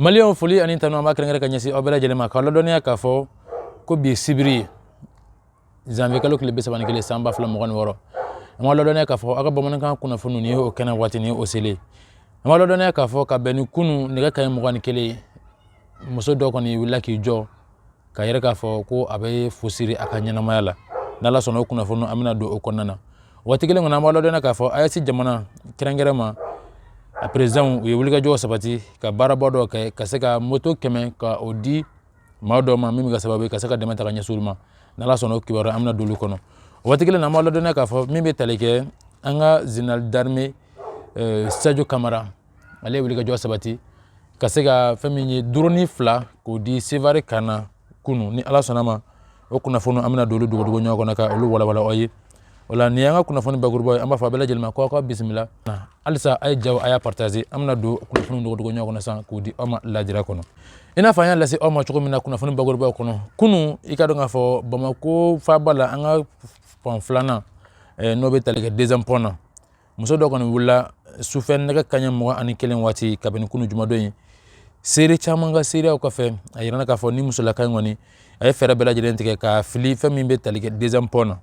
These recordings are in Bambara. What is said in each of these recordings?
maliyɛnw foli ani tanu an b'a kɛrɛnkɛrɛn ka ɲɛsin aw bɛɛ lajɛlen ma k'aw ladɔnniya k'a fɔ ko bi sibiri zanwiye kalo tile bi saba ni kelen san ba fila mugan ni wɔɔrɔ an b'a ladɔnniya k'a fɔ aw ka bamanankan kunnafoni nin ye o kɛnɛ waati ni o selen an b'a ladɔnniya k'a fɔ ka bɛn ni kunu nɛgɛ kaɲɛ mugan ni kelen muso dɔ kɔni wulila k'i jɔ k'a yira k'a fɔ ko a bɛ fu siri a ka ɲɛnamaya la n' ala sɔnna o kunnafoni an bɛna don o kɔnɔna na waati kelen kɔnɔ an b'a ladɔnniya k'a fɔ AES jamana kɛrɛnkɛrɛn ma a président ye wulikajɔ sabati ka baaraba dɔ kɛ ka se ka moto kɛmɛ ka o di maa dɔ ma min ka sababu ka se ka dɛmɛ ta ka ɲɛsin u ma n ala sɔnna o kibaru an bɛna don olu kɔnɔ waati kelen na an b'a ladɔnniya k'a fɔ min bɛ tali kɛ an ka général d'armée sajo kamara ale ye wulikajɔ sabati ka se ka fɛn min ye dɔrɔni fila k'o di sevare kan na kunu ni ala sɔnna a ma o kunnafoni an bɛna don olu dogodogo ɲɔgɔn kɔnɔ ka olu walawala aw ye o la nin y'an ka kunnafoni bakuruba ye an b'a fɔ a bɛɛ lajɛlen ma ko aw ka bisimila halisa a ye jaw a y'a partaze an bɛna don kunnafoni dogodogo ɲɔgɔn kɔnɔ sisan k'o di aw ma lajira kɔnɔ i n'a fɔ an y'a lase aw ma cogo min na kunnafoni bakurubaw kɔnɔ kunu i ka dɔn k'a fɔ bamako faaba la an ka pɔn filanan eh, n'o bɛ tali kɛ deuxième pɔn na muso dɔ kɔni wulila sufɛ nɛgɛ kaɲɛ mugan ani kelen waati kabini kunu jumadon in seere caman ka seereyaw kɔfɛ a yirana k'a fɔ ni musolaka in kɔni a ye fɛɛrɛ bɛɛ lajɛlen tigɛ k'i fili fɛn min bɛ tali kɛ deuxième pɔn na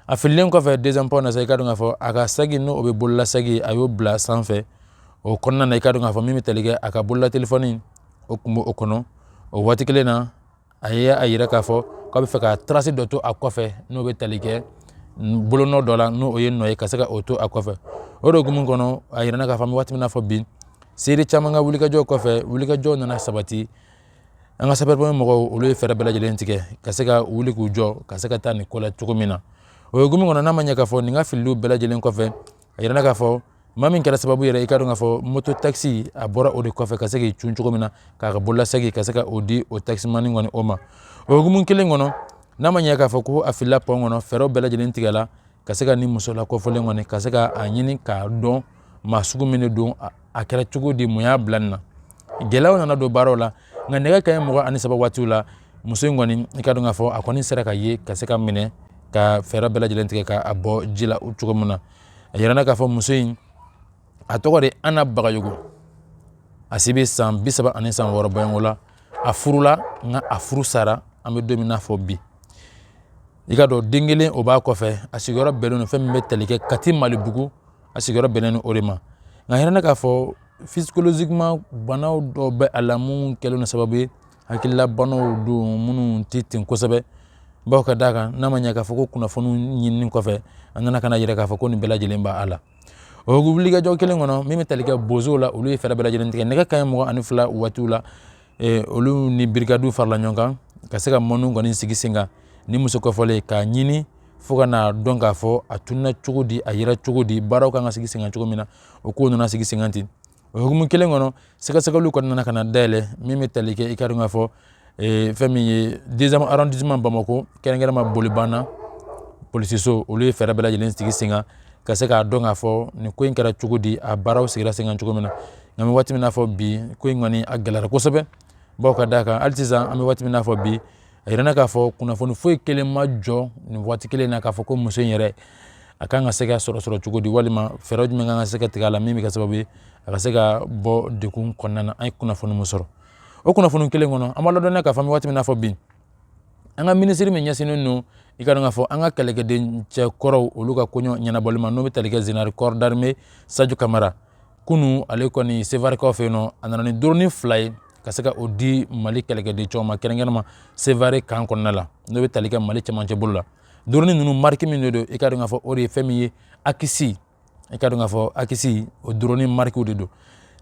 a fililen kɔfɛ deuxième pɔn na sa i ka dɔn k'a fɔ a ka sagi n'o bɛ bololasagi a y'o bila sanfɛ o kɔnɔna na i ka dɔn k'a fɔ min bɛ tali kɛ a ka bolola telefɔni o tun b'o kɔnɔ o waati kelen na a ye a yira k'a fɔ k'a bɛ fɛ ka tarasi dɔ to a kɔfɛ n'o bɛ tali kɛ bolonɔ dɔ la n'o ye nɔ ye ka se ka o to a kɔfɛ o de hukumu kɔnɔ a yirana k'a fɔ waati min na fɔ bi seere caman ka wulikajɔ kɔfɛ wulikajɔ nana sabati an ka sapɛri pɔnpiye mɔgɔw olu ye fɛɛrɛ bɛɛ lajɛlen tigɛ ka se ka wuli k'u jɔ ka se ka taa nin ko la cogo min na o hukumu kɔnɔ n'a ma ɲɛ k'a fɔ nin ka filili bɛɛ lajɛlen kɔfɛ a yirana k'a fɔ maa min kɛra sababu yɛrɛ i ka dɔn k'a fɔ moto takisi a bɔra o de kɔfɛ ka se k'i cun cogo min na k'a ka bololasagi ka se ka o di o takisimani kɔni o ma o hukumu kelen kɔnɔ n'a ma ɲɛ k'a fɔ ko a filila pɔn kɔnɔ fɛɛrɛw bɛɛ lajɛlen tigɛla ka se ka ni muso lakɔfɔlen kɔni ka se ka a ɲini k'a dɔn maa sugu min de don a kɛra cogo di mun y'a bila nin na gɛlɛyaw nana don baaraw la nka nɛgɛ kaɲɛ mugan ani saba waatiw la muso in kɔni i ka dɔn k'a fɔ a kɔni sera ka ye ka se ka minɛ ka fɛɛrɛ bɛɛ lajɛlen tigɛ k'a bɔ ji la cogo min na a yirana k'a fɔ muso in a tɔgɔ de ana bagayogo a si bɛ san bi saba ani san wɔɔrɔ bɔɲɔgɔnko la a furula nka a furu sara an bɛ don min na fɔ bi i ka dɔn den kelen o b'a kɔfɛ a sigiyɔrɔ bɛnnen don fɛn min bɛ tali kɛ kati malibugu a sigiyɔrɔ bɛnnen don o de ma nka a yirala k'a fɔ psychologiquement banaw dɔw bɛ a la minnu kɛlen don sababu ye hakililabanaw don minnu tɛ ten kosɛbɛ bawo ka d'a kan n'a ma ɲɛ k'a fɔ ko kunnafoni ɲinin kɔfɛ a nana ka na a yira k'a fɔ ko nin bɛɛ lajɛlen b' a la o wulikajɔ kelen kɔnɔ min bɛ tali kɛ bozow la olu ye fɛɛrɛ bɛɛ lajɛlen tigɛ nɛgɛ kanɲɛ mugan ani fila waatiw la eh, olu ni brigade farala ɲɔgɔn kan ka se ka mɔniw kɔni sigi sen kan nin muso kɔfɔlen k'a ɲini fo ka na a dɔn k'a fɔ a tununa cogo di a yera cogo di baaraw kan ka sigi senkan cogo min na o kow nana sigi senkan ten o hukumu kelen kɔnɔ sɛgɛsɛgɛliw kɔni nana ka na dayɛlɛ min bɛ tali kɛ i k'a dɔn k'a fɔ eh, fɛn min ye deuxième arrondissement bamako kɛrɛnkɛrɛnma bolibana polisiso olu ye fɛɛrɛ bɛɛ lajɛlen sigi senkan ka se k'a dɔn k'a fɔ nin ko in kɛra cogo di a baaraw sigira senkan cogo min na nka an bɛ waati min na fɔ bi ko in kɔni a gɛlɛyara kosɛbɛ bawo ka d'a kan hali sisan an bɛ waati min na fɔ bi a yirala k'a fɔ kunnafoni foyi kelen ma jɔ nin waati kelen na k'a fɔ ko muso in yɛrɛ a kan ka se ka sɔrɔ sɔrɔ cogo di walima fɛɛrɛ jumɛn kan ka se ka tigɛ a la min bɛ kɛ sababu ye a ka se ka bɔ dekun kɔnɔna na an ye kunnafoni min sɔrɔ o kunnafoni kelen kɔnɔ an b'a ladɔnniya k'a fɔ an bɛ waati min na fɔ bi an ka minisiri min ɲɛsinnen don i k'a dɔn k'a fɔ an ka kɛlɛkɛden cɛ kɔrɔw olu ka koɲɛw ɲɛnabɔli ma n'o bɛ tali kɛ général corps d'armée sajo kamara kunu ale kɔni sevarekaw fɛ yen nɔ a nana ni doroni fila ye ka se ka o di mali kɛlɛkɛden cɛw ma kɛrɛnkɛrɛnma sevare kan kɔnɔna la n'o bɛ tali kɛ mali cɛmancɛ bolo la doroni ninnu mariki min de don i k'a dɔn k'a fɔ o de ye fɛn min ye akinci i k'a dɔn k'a fɔ akinci o doroni marikiw de don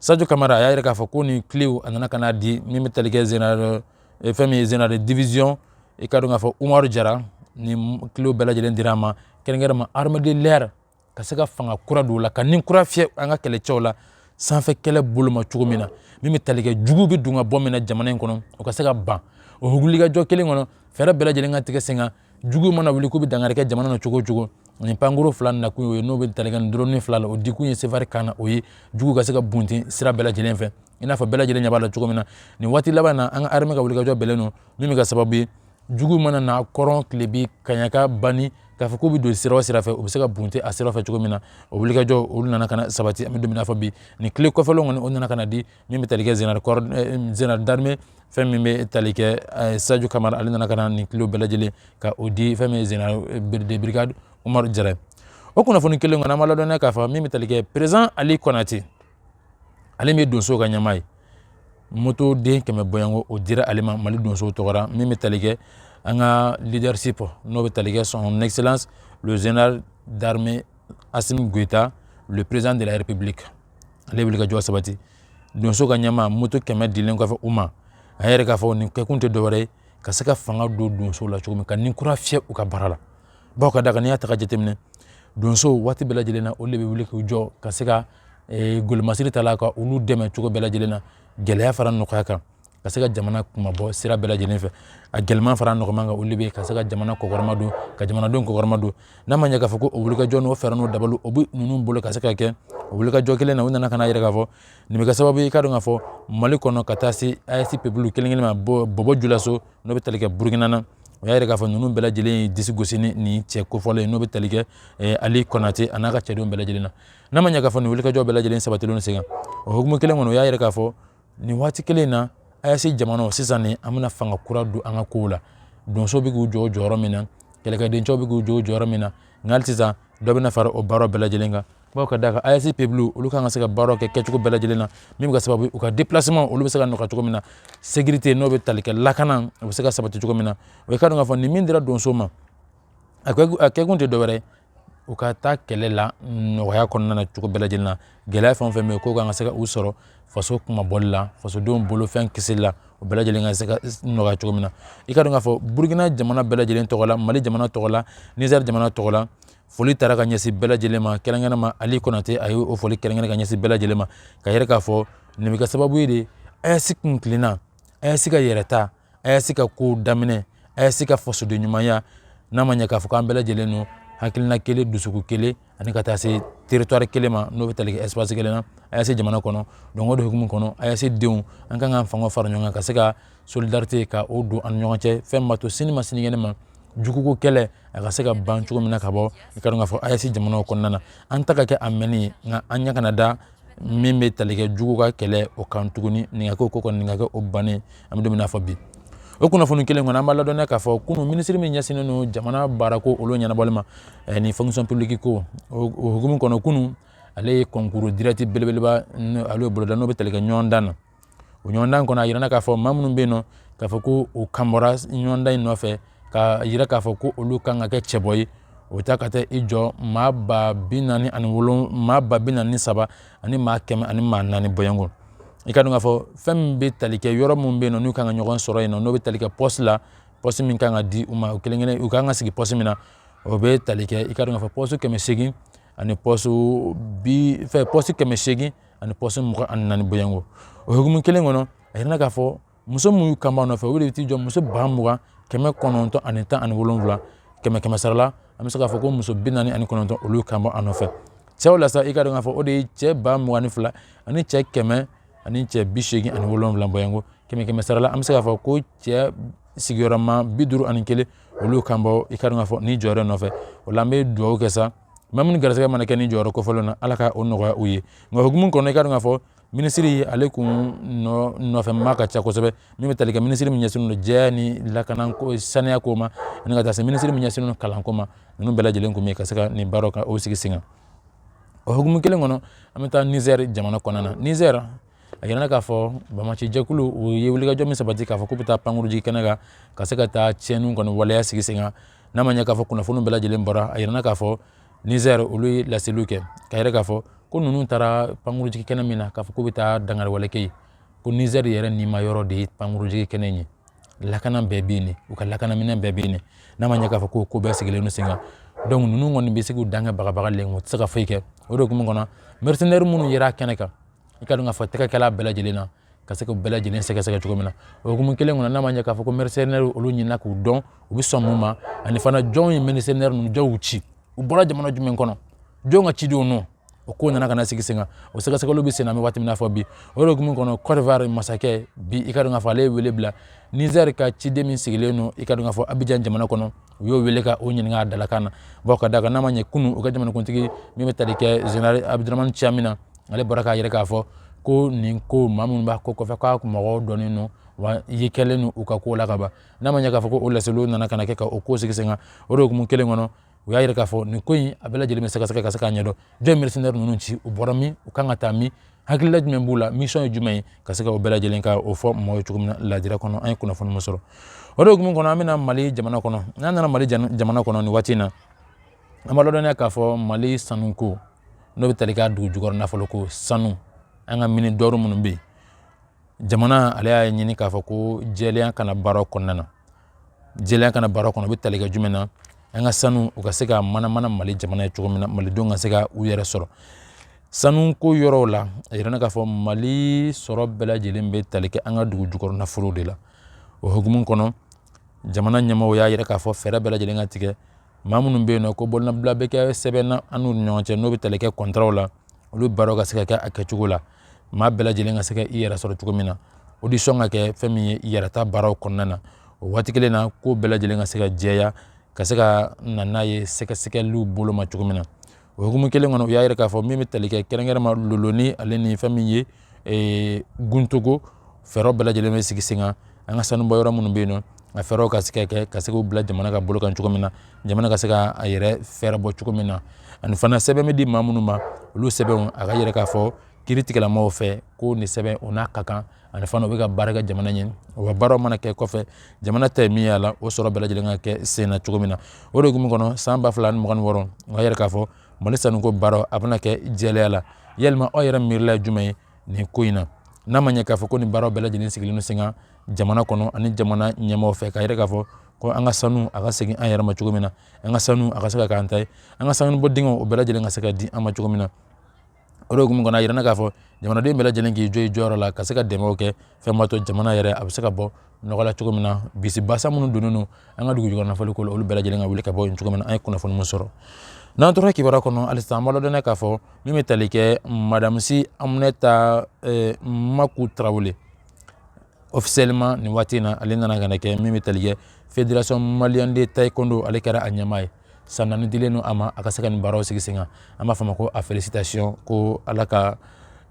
sajo kamara a y'a yira k'a fɔ ko nin kilew a nana ka n'a di min bɛ tali kɛ général eh, fɛn min ye général division i k'a dɔn k'a fɔ umaru jara nin kilew bɛɛ lajɛlen dira a ma kɛrɛnkɛrɛnma armée de l'air ka se ka fanga kura don o la ka ni kura fiyɛ an ka kɛlɛcɛw la sanfɛ kɛlɛ bolo ma cogo min na min bɛ tali kɛ jugu bɛ don ka bɔ min na jamana in kɔnɔ o ka se ka ban o wulikajɔ kelen kɔnɔ fɛɛrɛ bɛɛ lajɛlen ka tigɛ sen kan jugu mana wuli k'u bɛ dankari kɛ jamana na cogo o cogo nin pankurun fila nakun y'o ye n'o bɛ tali kɛ nin doroni fila la o dikun ye sevare kan na o ye jugu ka se ka bunten sira bɛɛ lajɛlen fɛ i n'a fɔ bɛɛ lajɛlen ɲɛ b'a la cogo min na nin waati laban na an ka armée ka wulikajɔ bɛnnen don min bɛ kɛ sababu ye jugu mana na kɔrɔn tilebin kaɲaka banni k'a fɔ k'u bɛ don sira o sira fɛ u bɛ se ka bunten a sira fɛ cogo min na o wulikajɔ olu nana ka na sabati an bɛ don min na fɔ bi nin kile kɔfɔlenw kɔni o nana ka na di min bɛ tali kɛ général eh, général d'armée fɛn min bɛ tali kɛ eh, sajo kamara ale nana ka na nin kilew bɛɛ lajɛlen ka o di fɛn min ye général eh, de brigade umaru jara o kunnafoni kelen kɔnɔ an b'a ladɔnniya k'a fɔ min bɛ tali kɛ président ali kɔnate ale min ye donso ka ɲɛmaa ye moto den kɛmɛ bɔɲɔgɔn o dira ale ma mali donso tɔgɔ la min bɛ tali kɛ an ka leadership n'o bɛ tali kɛ son excellence le général d'armée assimi goïta le président de la république ale wulikajɔ sabati donso ka ɲɛmaa moto kɛmɛ dilen kɔfɛ u ma a yira k'a fɔ nin kɛkun tɛ dɔwɛrɛ ye ka se ka fanga don donso la cogo min ka ni kura fiyɛ u ka baara la bawo ka d'a kan n'i y'a ta ka jateminɛ donso waati bɛɛ lajɛlen na olu de bɛ wuli k'u jɔ ka se ka eh, golomasiri ta la ka olu dɛmɛ cogo bɛɛ lajɛlen na gɛlɛya fara nɔgɔya kan ka se ka jamana kumabɔ sira bɛɛ lajɛlen fɛ a gɛlɛman fara nɔgɔman kan olu bɛ ka se ka jamana kɔkɔrɔmadon ka jamanadenw kɔkɔrɔmadon n'a ma ɲɛ k'a fɔ ko o wulikajɔ n'o fɛɛrɛ n'o dabali o bɛ ninnu bolo ka se ka kɛ o wulikajɔ kelen na u nana ka n'a yira k'a fɔ nin bɛ kɛ sababu ye i ka dɔn k'a fɔ mali kɔnɔ ka taa se AES peuple kelen kelen ma bɔbɔ julaso n'o bɛ tali kɛ burukina na o y'a yira k'a fɔ ninnu bɛɛ lajɛlen ye disi gosi ni nin cɛ kofɔlen ye n'o bɛ tali kɛ eh, ali kɔnate a n'a ka cɛdenw bɛɛ lajɛlen na n'a ma ɲɛ k'a fɔ nin wulikajɔ bɛɛ lajɛlen sabatilen sen kan o hukumu kelen kɔnɔ o y'a yira k'a fɔ nin waati kelen na AES jamana sisan nin an bɛna fanga kura don an ka kow la donso bɛ k'u jɔ jɔyɔrɔ min na kɛlɛkɛdencɛw bɛ k'u jɔ jɔyɔrɔ min na nka hali sisan dɔ bɛna fara o baara bɛɛ lajɛlen kan bawo ka d'a kan AES peuple olu kan ka se ka baara kɛ kɛcogo bɛɛ lajɛlen na min bɛ kɛ sababu u ka déplacement olu bɛ se ka nɔgɔya cogo min na sécurité n'o bɛ tali kɛ lakana o bɛ se ka sabati cogo min na o ye ka dɔn k'a fɔ nin min dira donso ma a kɛkun tɛ dɔwɛrɛ u ka taa kɛlɛ la nɔgɔya kɔnɔna na cogo bɛɛ lajɛlen na gɛlɛya fɛn o fɛn bɛ k'u kan ka se ka u sɔrɔ faso kumabɔli la fasodenw bolofɛn kisili la o bɛɛ lajɛlen ka se ka nɔgɔya cogo min na i ka dɔn k'a fɔ burukina jamana bɛɛ lajɛlen tɔgɔ la mali jamana tɔgɔ la nizɛri jamana tɔgɔ la foli taara ka ɲɛsin bɛɛ lajɛlen ma kɛrɛnkɛrɛn ma ali kɔnate a ye o foli kɛrɛnkɛrɛn ka ɲɛsin bɛɛ lajɛlen ma k'a yira k'a fɔ nin bɛ kɛ sababu ye de AES kuntilenna AES ka yɛrɛta AES ka ko daminɛ AES ka fasodenɲumanya n'a ma ɲɛ k'a fɔ k'an bɛɛ lajɛlen don hakilina kelen dusukun kelen ani ka taa se territoire kelen ma n'o bɛ tali kɛ espace kelen na AES jamana kɔnɔ donc o de hukumu kɔnɔ AES denw an kan k'an fanga fara ɲɔgɔn kan ka se ka solidarité ka o don an ni ɲɔgɔn cɛ fɛn min b'a to sini ma sinikɛnɛ ma juguko kɛlɛ a ka se ka ban cogo min na ka bɔ i ka dɔn k'a fɔ AES jamanaw kɔnɔna na an ta ka kɛ a mɛnni ye nka an ɲɛ kana da min bɛ talikɛ jugu ka kɛlɛ o kan tuguni nin ka kɛ o ko kɔni nin ka kɛ o bannen an bɛ don min na fɔ bi o kunnafoni kelen kɔnɔ an b'a ladɔnniya k'a fɔ kunun minisiri min ɲɛsinnen don jamana baarako olu ɲɛnabɔli ma ni fonction publique ko o hukumu kɔnɔ kunun ale ye concours direct belebeleba ale boloda n'o bɛ talikɛ ɲɔgɔndan na o ɲɔgɔndan kɔnɔ a yirana k'a fɔ maa minnu bɛ yen nɔ k'a fɔ ko u kanbɔra ɲɔgɔndan in nɔfɛ k'a yira k'a fɔ ko olu kan ka kɛ cɛbɔ ye o ta ka taa i jɔ maa ba bi naani ani wolon maa ba bi naani saba ani maa kɛmɛ ani maa naani bɔɲɔgɔn i ka dɔn k'a fɔ fɛn min bɛ tali kɛ yɔrɔ minnu bɛ yen nɔ n'u kan ka ɲɔgɔn sɔrɔ yen nɔ n'o bɛ tali kɛ pɔsi la pɔsi min kan ka di u ma u kelen kelen u kan ka sigi pɔsi min na o bɛ tali kɛ i ka dɔn k'a fɔ pɔsi kɛmɛ seegin ani pɔsi bi fɛ pɔsi kɛmɛ seegin ani pɔsi mugan ani naani bɔɲɔgɔnko o hukumu kelen kɔnɔ a yirana k'a fɔ muso minnu kan b'a nɔfɛ o de bɛ t'i jɔ muso ba mugan kɛmɛ kɔnɔntɔn ani tan ani wolonwula kɛmɛ kɛmɛ sara la an bɛ se k'a fɔ ko muso bi naani ani kɔnɔntɔn olu kan b'a nɔfɛ cɛw la sa i ka dɔn k'a fɔ o de ye cɛ ba mugan ni fila ani cɛ kɛmɛ ani cɛ bi seegin ani wolonwula bɔɲɔgɔnko kɛmɛ kɛmɛ sara la an bɛ se k'a fɔ ko cɛ sigiyɔrɔma bi duuru ani kelen olu kan bɔ i ka dɔn k'a fɔ ni jɔyɔrɔ nɔfɛ o la an bɛ dugawu kɛ sa maa minnu garisɛgɛ mana kɛ ni jɔyɔrɔ kofɔlen na ala ka o nɔgɔya u ye nka hukumu kɔnɔ i ka dɔn k'a fɔ minisiri ale kun nɔfɛmaa ka ca kosɛbɛ min bɛ tali kɛ minisiri min ɲɛsinnen don jɛya ni lakana ko saniya ko ma ani ka taa se minisiri min ɲɛsinnen don kalanko ma ninnu bɛɛ lajɛlen kun bɛ ka se ka nin baaraw ka o sigi sen kan o hukumu kelen kɔnɔ an bɛ taa nizɛri jamana kɔnɔna na nizɛri a yirana k'a fɔ banbaanci jɛkulu u ye wulikajɔ min sabati k'a fɔ k'u bɛ taa pankurunjigi kɛnɛ kan ka se ka taa tiɲɛniw kɔni waleya sigi sen kan n'a ma ɲɛ k'a fɔ kunnafoni bɛɛ lajɛlen bɔra a yirana k'a fɔ nizɛri olu ye laseliw kɛ k'a yira k'a fɔ ko ninnu taara pankurunjigi kɛnɛ min na k'a fɔ k'u bɛ taa dankariwale kɛ yen ko nizɛri yɛrɛ nima yɔrɔ de ye pankurunjigi kɛnɛ in ye lakana bɛɛ bɛ yen u ka lakanaminɛn bɛɛ bɛ yen n'a ma ɲɛ k'a fɔ ko ko bɛɛ sigilen don sen kan donc ninnu kɔni bɛ se k'u dan kɛ bagabagali ye u tɛ se ka foyi kɛ o de hukumu kɔnɔ mercenaires minnu yera kɛnɛ kan i ka dɔn k'a fɔ tɛgɛkɛla bɛɛ lajɛlen na ka se k'a bɛɛ lajɛlen sɛgɛsɛgɛ cogo min na o hukumu kelen kɔnɔ n'a ma ɲɛ k'a fɔ ko mercenaire olu ɲinina k'u dɔn u bɛ sɔn mun ma ani fana jɔn ye mercenaire ninnu jɔn y'u ci u bɔra jamana jumɛn kɔnɔ jɔn ka cidenw don o ko nana ka na sigi sen kan o sɛgɛsɛgɛliw bɛ sen na an bɛ waati min na fɔ bi o de hukumu kɔnɔ Côte d'Ivoire masakɛ bi i ka dɔn k'a fɔ ale ye wele bila Niger ka ciden min sigilen don i ka dɔn k'a fɔ Abidjan jamana kɔnɔ u y'o wele ka o ɲininka a dalakan na bawo ka d'a kan n'a ma ɲɛ kunun u ka jamanakuntigi min bɛ tali kɛ zenerali abudramani ciyami na ale bɔra k'a yira k'a fɔ ko nin ko maa minnu b'a ko kɔfɛ k'a mɔgɔw dɔnnen don wa ye kɛlen don u ka ko la ka ban n'a ma ɲɛ k'a fɔ ko o laseliw nana ka na kɛ ka o ko sigi sen kan o de hukumu kelen kɔnɔ u y'a yira k'a fɔ nin ko in a bɛɛ lajɛlen bɛ sɛgɛsɛgɛ ka se k'a ɲɛdɔn jɔn mercenaire ninnu ci u bɔra min u kan ka taa min hakilila jumɛn b'u la misiyɔn ye jumɛn ye ka se ka o bɛɛ lajɛlen ka o fɔ mɔgɔ ye cogo min na lajira kɔnɔ an ye kunnafoni min sɔrɔ o de hukumu kɔnɔ an bɛna mali jamana kɔnɔ n'an nana mali jamana kɔnɔ nin waati in na an b'a ladɔnniya k'a fɔ mali sanuko n'o bɛ tali k'a dugu jukɔrɔ nafolo ko sanu an ka mines d'or minnu bɛ yen jamana ale y'a ɲini k'a fɔ ko jɛlenya ka na baara kɔnɔna na jɛlenya ka na baara kɔnɔ o bɛ tali kɛ jumɛn na an ka sanu u ka se ka manamana mali jamana ye cogo min na malidenw ka se ka u yɛrɛ sɔrɔ sanuko yɔrɔw la a yirana k'a fɔ mali sɔrɔ bɛɛ lajɛlen bɛ tali kɛ an ka dugu jukɔrɔ nafolow de la o hukumu kɔnɔ jamana ɲɛmɔgɔw y'a yira k'a fɔ fɛɛrɛ bɛɛ lajɛlen ka tigɛ maa minnu bɛ yen n'o ko bolonɔbila bɛ kɛ sɛbɛn na an n'u ni ɲɔgɔn cɛ n'o bɛ tali kɛ kɔntaraw la olu baaraw ka se ka kɛ a kɛcogo la maa bɛɛ lajɛlen ka se ka i yɛrɛ sɔrɔ cogo min na audition ka kɛ fɛn min ye i yɛrɛ ta baaraw kɔnɔna na o waati kelen na ko bɛɛ lajɛlen ka se ka jɛya ka se ka na n'a ye sɛgɛsɛgɛliw bolo ma cogo min na o hukumu kelen kɔnɔ u y'a yira k'a fɔ min bɛ tali kɛ kɛrɛnkɛrɛnma lulo ni ale ni fɛn min ye eh, guntogo fɛɛrɛw bɛɛ lajɛlen bɛ sigi sen kan an ka sanubɔ yɔrɔ minnu bɛ yen nɔ a fɛɛrɛw ka se ka kɛ ka se k'u bila jamana ka bolo kan cogo min na jamana ka se ka a yɛrɛ fɛɛrɛ bɔ cogo min na ani fana sɛbɛn bɛ di maa minnu ma olu sɛbɛnw a k'a yira k'a fɔ kiritigɛlamaaw fɛ ko nin sɛbɛn o n'a ka kan ani fana u bɛ ka baara kɛ jamana ɲɛ o ka baaraw mana kɛ kɔfɛ jamana ta ye min y'a la o sɔrɔ bɛɛ lajɛlen ka kɛ sen na cogo min na o de hukumu kɔnɔ san ba fila ni mugan ni wɔɔrɔ o k'a yira k'a fɔ mali sanuko baaraw a bɛna kɛ jɛlenya la yalima aw yɛrɛ miirila ye jumɛn ye nin ko in na n'a ma ɲɛ k'a fɔ ko nin baaraw bɛɛ lajɛlen sigilen don sen kan jamana kɔnɔ ani jamana ɲɛmaaw fɛ k'a yira k'a fɔ ko an ka sanu a ka segin an yɛrɛ ma cogo min na an ka sanu a ka se ka k'an ta ye an ka sanubɔ dingɛw o bɛɛ lajɛlen ka se ka di an ma cogo min na o de hukumu kɔnɔ a yirana k'a fɔ jamanaden bɛɛ lajɛlen k'i jɔ i jɔyɔrɔ la ka se ka dɛmɛw kɛ fɛn b'a to jamana yɛrɛ a bɛ se ka bɔ nɔgɔ la cogo min na bisi basa minnu donnen don an ka dugujukɔrɔ nafolo ko la olu bɛɛ lajɛlen ka wuli ka bɔ yen cogo min na an ye kunnafoni min sɔrɔ n'an tora kibaruya kɔnɔ halisa an b'a ladɔnniya k'a fɔ min bɛ tali kɛ madame si aminata eh, maku tarawele officiellement nin waati in na ale nana ka na kɛ min bɛ tali kɛ fédération malienne de taekwondo ale kɛra a ɲɛmaa ye san naani dilen don a ma a ka se ka nin baaraw sigi sen kan an b'a fɔ a ma ko a félicitation ko ala ka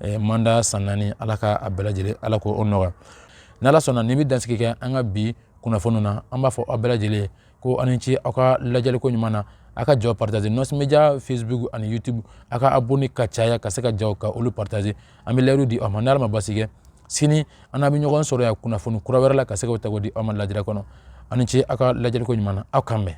eh, manda san naani ala ka a bɛɛ lajɛlen ala k'o nɔgɔya n'ala sɔnna nin bɛ dansigi kɛ an ka bi kunnafoniw na an b'a fɔ aw bɛɛ lajɛlen ko aw ni ce aw ka lajɛliko ɲuman na aw ka jaw partager nos media facebook ani youtube aw ka abonné ka caya ka se ka jaw ka olu partager an bɛ layidu di aw ma n'ala ma basi kɛ sini an n'aw bɛ ɲɔgɔn sɔrɔ yan kunnafoni kura wɛrɛ la ka se k'o ta k'o di aw ma lajɛrɛ kɔnɔ aw ni ce aw ka lajɛliko ɲuman na aw k'an bɛn